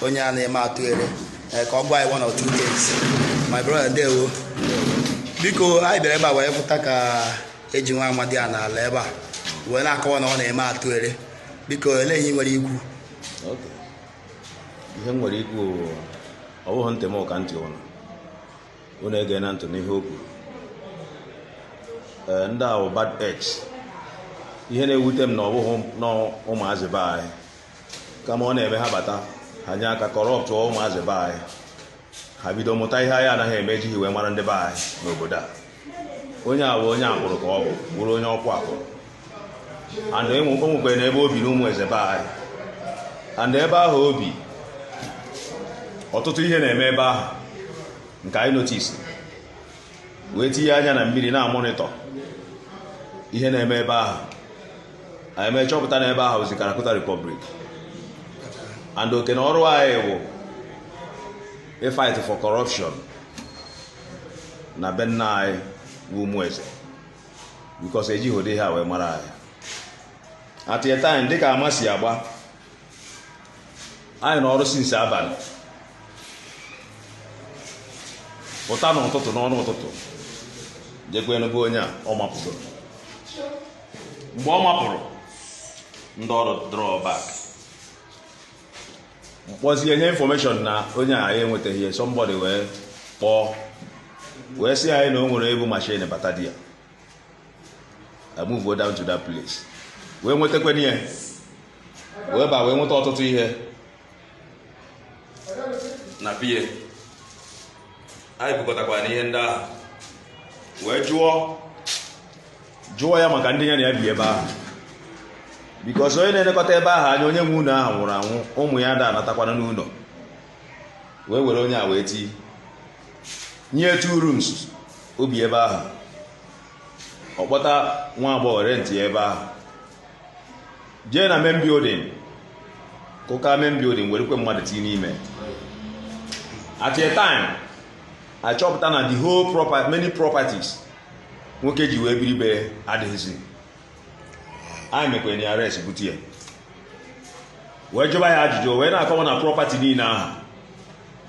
onye a na-eme atụ ere eh, ka ọ gwa anyị one or two things my brother ndewo biko anyị bịara ebe a wee fụta ka e ji nwa amadị a n'ala ebe a wee na-akọwa na ọ na-eme atụ ere biko elee ihe ị nwere ikwu Okay. ihe m nwere ikwu bụ, ọ bụghị ntị m ka ntị unu unu egena ntị n'ihe o kwuru Ee, ndị a bụ bad eggs ihe na-ewute m na ọ bụghị na ụmụazị be anyị kama ọ na-eme ha bata ha nye aka kọrọptụ ụmụazị be anyị ha bido mụta ihe anyị anaghị eme ejighị wee mara ndị be anyị n'obodo a onye a bụ onye Akpulu ka ọ bụ bụrụ onye Okwu Akpulu and e o nwekwere na ebe o bi na Umueze be anyị and ebe ahụ o bi ọtụtụ ihe na-eme ebe ahụ nke anyị notisi wee tinye anya na mmiri na-amọnịtọ ihe na-eme ebe ahụ anyị mee chọpụta na ebe ahụzi Kalakuta Republic and oke na ọrụ anyị bụ ịfight for corruption na be nna anyị bụ Umueze bikos ejighị ụdị ihe ahụ wee mara anyị at a time dịka ama si agba anyị na ọrụ sinsi abalị pụta n'ụtụtụ n'ọnụ ụtụtụ jekwanụ be onye a ọ mapụtoro mgbe ọ mapụrụ ndị ọrụ draw back m kpọzie nye infọmeshọn na onye a ya enwetaghị ya sọmbọdị wee kpọọ wee sị anyị na o nwere e bu mashin bata there a muvuo down to that place wee nwetakwana ya wee ba wee nweta ọtụtụ ihe na be ya anyị bukọtakwara ihe ndị ahụ wee jụọ jụọ ya maka ndị ya na ya bi ebe ahụ bikos onye na-elekọta ebe ahụ anya onye nwe ụlọ ahụ nwụrụ anwụ ụmụ ya ada anatakwa n'ụlọ wee were onye a wee tii nye ya two rooms o bi ebe ahụ ọ kpọta nwa agbọghọ rentịa ebe ahụ jee na main building kụkaa main building werekwe mmadụ tinye n'ime at a time a chọpụta na the whole property many properties nwoke ji wee biri be ya adịghịzi anyị mekwere ya arrest bute ya wee jụba ya ajụjụ wee na-akọwa na property niile ahụ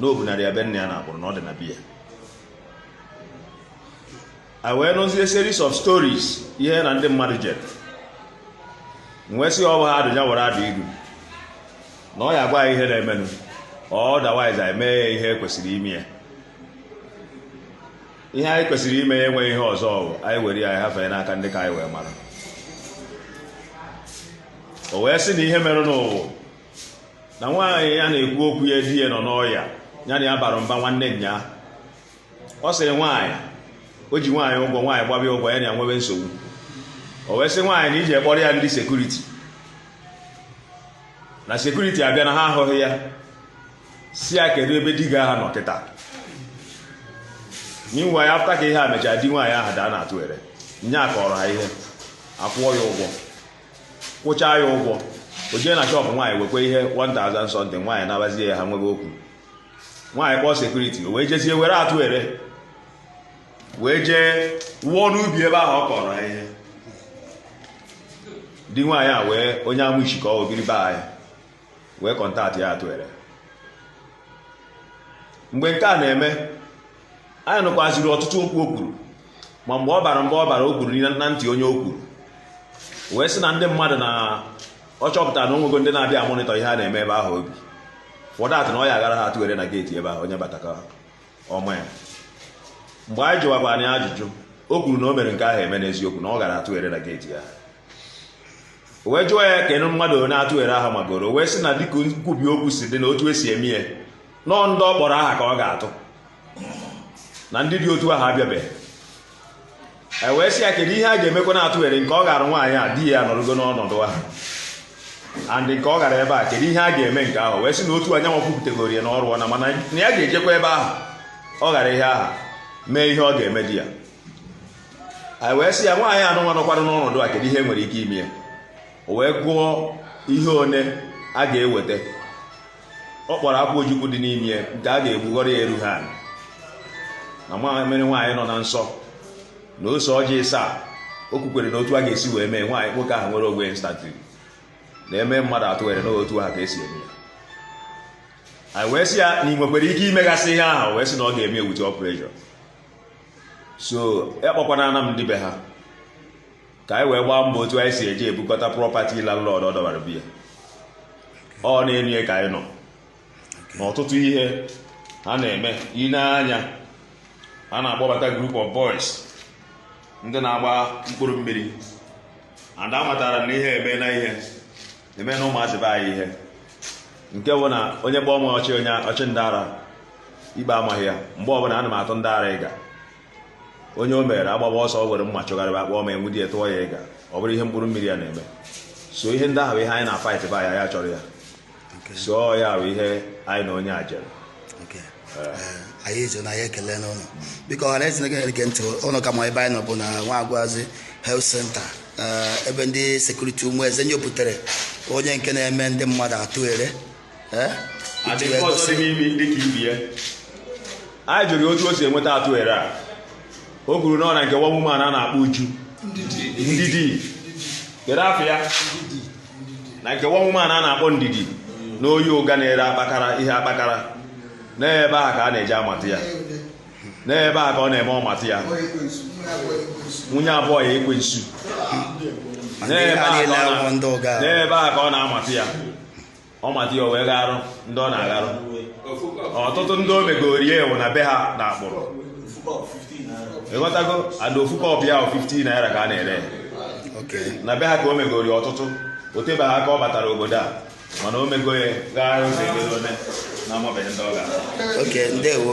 na o bunara ya be nna ya n'Akpulu na ọ dị na be ya e wee nụzie series of stories ihe na ndị mmadụ jere wee sị ọ bụ ha adụja were adụ ilu na ọ ya-agwa ya ihe na-emenụ otherwise anyị mee ya ihe e kwesịrị ime ya ihe anyị kwesịrị ime ya enweghị ihe ọzọ ọ wụ anyị were ya anyị hafee n'aka ndị ka anyị wee mara o wee sị na ihe merenụ wụ na nwaanyị ya na-ekwu okwu ya di ya nọ n'ọya ya na ya bara mba nwanne nya ọ sịrị nwaanyị o ji nwaanyị ụgwọ nwaanyị gbaba ya ụgwọ ya na ya nwebe nsogbu o wee sị nwaanyị na i ji kpọrọ ya ndị security na security abịa na ha ahụghị ya sị ya kedu ebe di gị aha nọ kịta meanwhile after ka ihe a mechara di nwaanyị ahụ daa n'atụ ere onye a kọọrọ ha ihe akwụọ ya ụgwọ kwụchaa ya ụgwọ o jee na shop nwaanyị wekwa ihe 1000 something nwaanyị nabazie ya ha nwebe okwu nwaanyị kpọọ security o wee jezie were atụ ere wee jee wụọ n'ubi ebe ahụ ọ kọrọ ihe di nwaanyị a wee onye amụ isi ka o biri be anyị wee contact ya atụ ere mgbe nke a na-eme anyị nụkwaziri ọtụtụ okwu o kwuru ma mgbe ọ bara mgbe ọ bara o kwuru na ntị onye o kwuru wee sị na ndị mmadụ na ọ chọpụtara na o nwego ndị na-abịa amonitor ihe a na-eme ebe ahụ ọ bụ for that na ọ ya-aghara ha atụ ere na gate ebe ahụ onye bata ka ọ maa ya mgbe anyị jụwakwa ya ajụjụ o kwuru na o mere nke ahụ eme n'eziokwu na ọ gara atụ ere na gate ya o wee jụọ ya keenụ mmadụ one atụ ere aha magoro o wee sị na dịka nkwubi okwu si dị na otu e si eme ya na ọ ndị ọ kpọrọ aha ka ọ ga-atụ na ndị dị otu ahụ abịabeghị e wee sị ya kedu ihe a ga-emekwanụ atụ ere nke ọ gara nwaanyị a di ya nọrụgo n'ọnọdụ ahụ and nke ọ gara ebe a kedu ihe a ga-eme nke ahụ wee sị na otu anyanwụ kụkwutegoro ya na ọ rụọna mana na ya ga-ejekwa ebe ahụ ọ gara ihe ahụ mee ihe ọ ga-eme di ya anyị wee sị ya nwaanyị anụnwa nọkwara n'ọnọdụ a kedu ihe e nwere ike ime ya o wee gụọ ihe one a ga-eweta ọ kpọrọ akwụ ojukwu dị n'ime nke a ga-egbughọrọ ya eruha ana mmiri nwaanyị nọ na nsọ na ose ọjị ịsaa o kwukwere na otu a ga-esi wee mee nwaanyị nwoke ahụ nwere ogwe instantly na e mee mmadụ atụ ere na otu ahụ ka e si eme ya wee sị ya na ị nwekwara ike imegasị ihe ahụ wee sị na ọ ga-eme ewuti operation so ya kpọkwana ana m ndị be ha ka anyị wee gbaa mbọ otu anyị si eji ebukọta property landlord ọ dọbara be ya ọ na-enwe ka anyị nọ n'ọtụtụ ihe a na-eme ị nee anya a na-akpọbata group of boys ndị na-agba mkpụrụ mmiri and a matara na ihe emena ihe emena ụmụazị be anyị ihe nke bụ na onye kpọọ m ọchị onye ọchị ndị ara ikpe amaghị ya mgbe ọbụla ana m atụ ndị ara iga onye o mere agbaba ọsọ o were mma chụgharịba akpọ ma enwudi ya tụọ ya ịga ọ bụrụ ihe mkpụrụ mmiri ya na-eme so ihe ndị ahụ bụ ihe anyị na-fight ba anyị achọrọ ya so ya bụ ihe anyị na onye a jere anyị ezo na ya ekele m unu biko ọha na eze na-ege ntị unu ka ma ebe anyị nọ bụ na nwagwazi health center ebe ndị sekuriti ụmụeze nyopụtere onye nke na-eme ndị mmadụ atụ ere anyị jụrụ otu o si enweta atụ ere a o kwuru na ọ na nke nwa woman a na-akpọ uju ndidi kedu afa ya na nke nwa woman a na-akpọ ndidi na oye ụga na-ere akpakara ihe akpakara n'ebe ahụ ka a na-eje amata ya n'ebe ahụ ka ọ na-eme ọ mata ya nwunye a bụ ya ekwensu n'ebe ahụ ka ọ na-amata ya ọ mata ya o wee gharụ ndị ọ na-agharụ ọtụtụ ndị o megori ya ewu n'ebe ahụ na akpụrụ ịghọtago ada ofu kọpụ ya 15 naira ka a na-ere n'ebe ahụ ka o megori ọtụtụ o tebeghị aka ọ batara obodo a mana o mego ya gharụ ụzọ ego na amabeghị ndị ọ ga-arụ oke ndewo